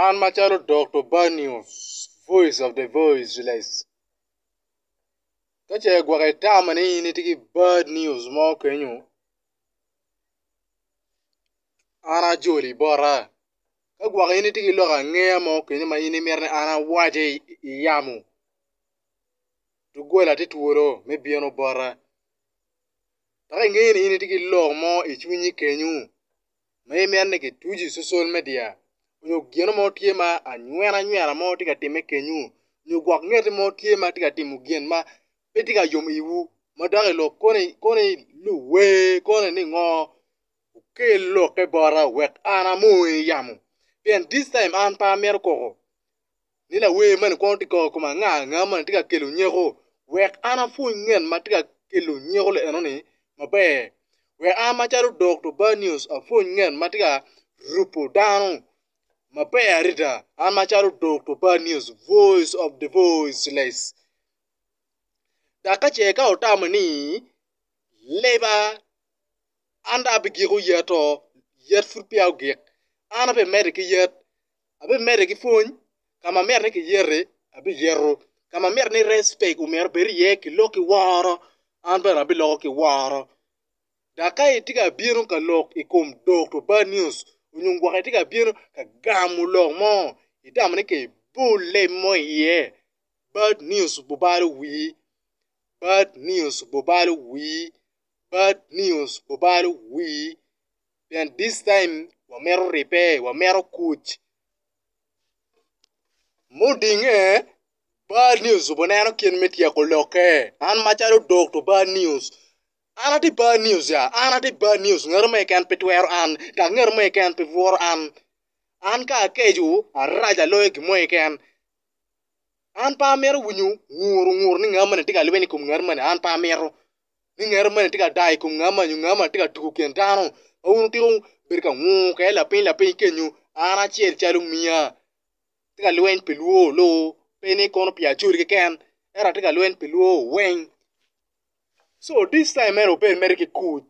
An macalo Dokto Banios, voice of the voiceless, ka ce gwok itamo ni in itye ki bad news mo kenyo, an ajoli bota. Ka gwok in itye ki lok angeya mo kenyo ma in imito ni an awace i yamo, doggola tye twolo me bino bota. Dok ingeo ni in itye ki lok mo i cwinyi kenyo. ma imito ni gituci i cocol media nyo gino mo tye ma anywena anywena mo tye ka timme kenyu nyo gwok ngeti mo tye ma tye ka timo gin ma pe tye ka yomo iwu ma dok i lok koni koni luwe koni ni ngo wukel lokke bota wek an amony yamo pien this time an pe amito koko ni lawer mani kwongo tye ka koko kome anga anga mani tye ka kelo nyeko wek an apwony ngen ma tye ka kelo nyeko li eno ni maber wek an macalo Dokto Banios apwony ngen ma tye ka rupo dano maber adada an macalo Dokto Banios voice of the voiceless dok ka ce ka wutamo ni leba an dong abigiko yat oo yat pud peya ogik an ape medde ki yat abimede ki pwony, ka ma mito ni kiyeti, abiyeto, ka ma mito ni respect omyero obed iye ki lok ki woro, an bene abiloko ki woro. Dok ka itye ka bino ka lok i kom Dokto Bad News nyo gwok itye ka bino ka gamo lok mo, itamo ni kibol leb mo iye, Bad News bubalo wii, Bad News bubalo wii, Bad News bubalo wii. pien this time wamito ribbe, wamito kuc. Mudinge, bad news ojubo neno kit me tyeko lokke. An macalo Dokto Bad News, an atye bad news ya? An atye bad news, ngat mo keken pe twero an, dok ngat mo keken pe bworo an. An ka akeco, araco aloyo gin mo keken. An pe amito winyo ngur ongur ni ngat moni tye ka lweny i kom ngat moni, an pe amito. ni ngero mene tye ka daa i kom nga ma nyo nga ma tye ka tuko kin dano ma wun wutiko bedo ka nguke lapiny lapiny kenyo an acel calo omiya atye ka lweny pi lwor loo pe ni kono pi Acholi keken ento atye ka lweny pi lwor weng so this time meno obed mere ki kuc.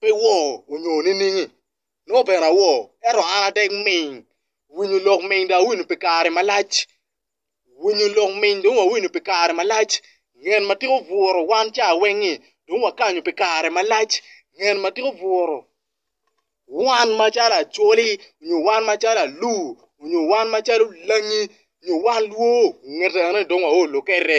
pe iwor onyo niningi, nongo bene awor, ento an atek ming, winyo lok ming dong awinyo pi kare malac, winyo lok ming dong wawinyo pi kare malac, ngen ma tika obuto wan ca weng-ngi dong wakanyo pi kare malac, ngen ma tika obuto wan macalo acholi nyo wan macalo alur nyo wan macalo langi nyo wan lwor ongetane dong wao lukete.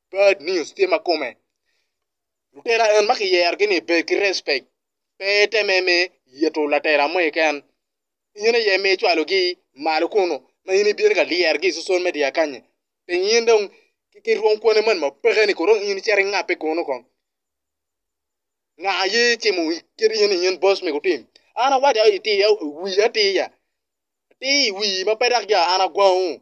Bad news tye ma kome. Lutela en ma kiyerogi ni bed ki respect. Pe iteme me yito latela mo keken. In aye ma icwalogi malo kunu ma in ibino ka lyerogi i social media kanyi. Ping in dong ki rwom kwoni moni ma peke ni kong in icito ingabbe kunu kong. Nga aye itimo kit in in boss me gutim. An awaco atir wiya atir ya. Atir i wii ma pe dok ya an agwangu.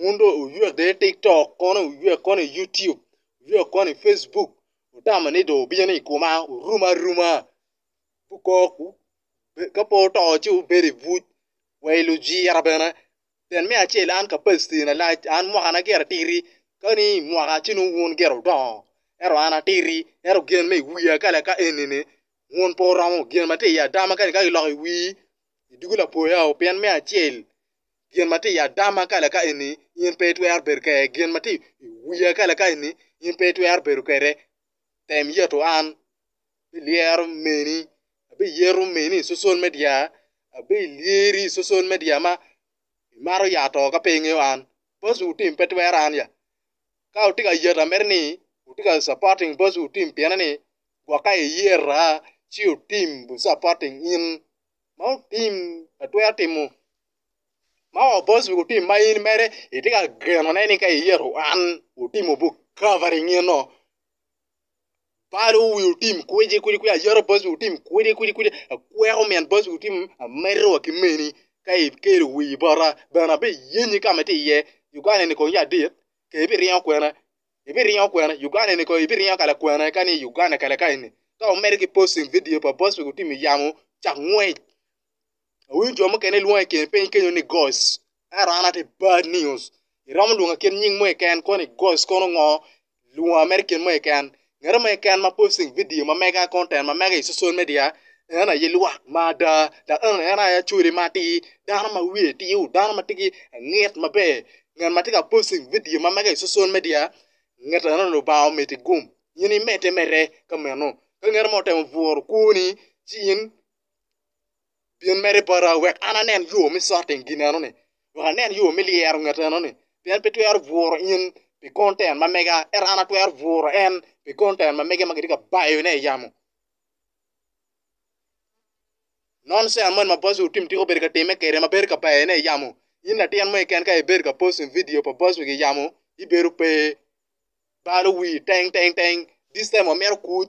wun dong wuywe bene i tiktok kono wuywe kono i youtube wuywe kono i facebook wutamo ni dong wubino i koma wurum aruma ka pe wuto ci wubedo i buc wa i lujira bene pien me acel an kapaciti na lac an mwakana gire atiti kadi i mwaka ci nongo wun gire wudongo ento an atiti ento gen ma i wiya kala ka enini wun pe wuromo gen ma tye i ada ma kadi ka giloko i wii idugo lapoyao pien me acel gin ma tye i adama ka laka eni in pe itwero bedo kwede, gin ma tye i wiya ka laka eni in pe itwero bedo kwede. Tem yeto an, abilyero meni, abiyeto meni i cocol me dyera, abiliyeri i cocol me dyera ma imato ya to ka pe ingeyo an. Boss-wu tim pe twero an ya. Ka wutye ka yeta mere ni wutye ka supporting boss-wu tim pien ni gwok ka iyeta ci wutim wu supporting in ma wutim atwero timo. ma obos wi otim ma in mere itye ka geno ne ni ka iyero en otimo bu covering eno balo wi otim kwidi kwidi kwidi ayero bos wi otim kwidi kwidi kwidi akweko min bos wi otim amedo wa ki meni ka ikelo wii bota bene abi yenyi ka ma itye iye Uganda eni kong ya dit ka ibiringo kwena ibiringo kwena Uganda eni kong ibiringo ka lakwena kani Uganda kala kani ka wumedo ki posting vidio pa bos wi otim yamo cak ngwec Awinyo jo mukene lwongo i kin piny kenyo ni goc, ento an atye bad news. Iromo lwonga kit nying mo keken koni goc kono ngo? Lwonga mere kit mo keken. Ngat mo keken ma posting video ma mega content ma mega i social media en aye lwak ma ada dok en aye acwali ma atir, dano ma wiye tye, dano ma tye ki angid maber. Ngat ma tye ka posting video ma mega i social media ngete eno Lubanga ometi gum in imedde mere ka meno. Ka ngat mo otemo bwuru kwoni ci in Bin mere bota wek an anen yo me cot i gin enoni, wek anen yo me lyero nget enoni, pien pe twero bwuro in pi konten ma mega, ento an atwero bwuro en pi konten ma mege ma kitye ka bayone i yamo. Nonsens moni ma boss wu Tim tika obedo ka timme kwede ma bedo ka bayone i yamo, in latin mo keken ka ibedo ka posting vidio pa boss wu i yamo, ibedo pe. balo wii teng teng teng this time amito kut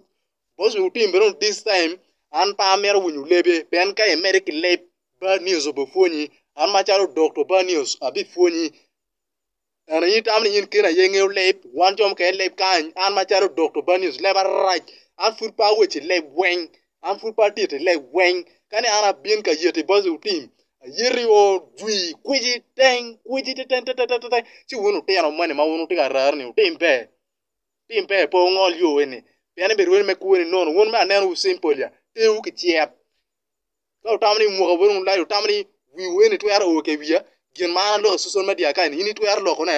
bos wi otim bene this time an pe amito winyo lebe pien ka imede ki leb bad news obipwonyi an macalo dokto bad news abipwonyi eni in itamo ni in kene aye ingeyo leb wan jo mukene leb kany an macalo dokto bad news leba rac an pud pe awaco i leb weng An pud pe atit i leg weng, kani an abin ka yeti bot lutim, ayeti o dwi kwici teng, kwici teteng teteng teteng, ci wun lutino moni ma wun wutye ka raro ni wutim ber, wutim ber pe wungol yo eni, pien ni birwene me kweni nono, wun mere aneno wu simple ya, tewu kicek, ka wutamo ni muka wun wulac, wutamo ni wiwu eni twero o ki wiya, gin ma an aloko i social media kani in itwero loko ne?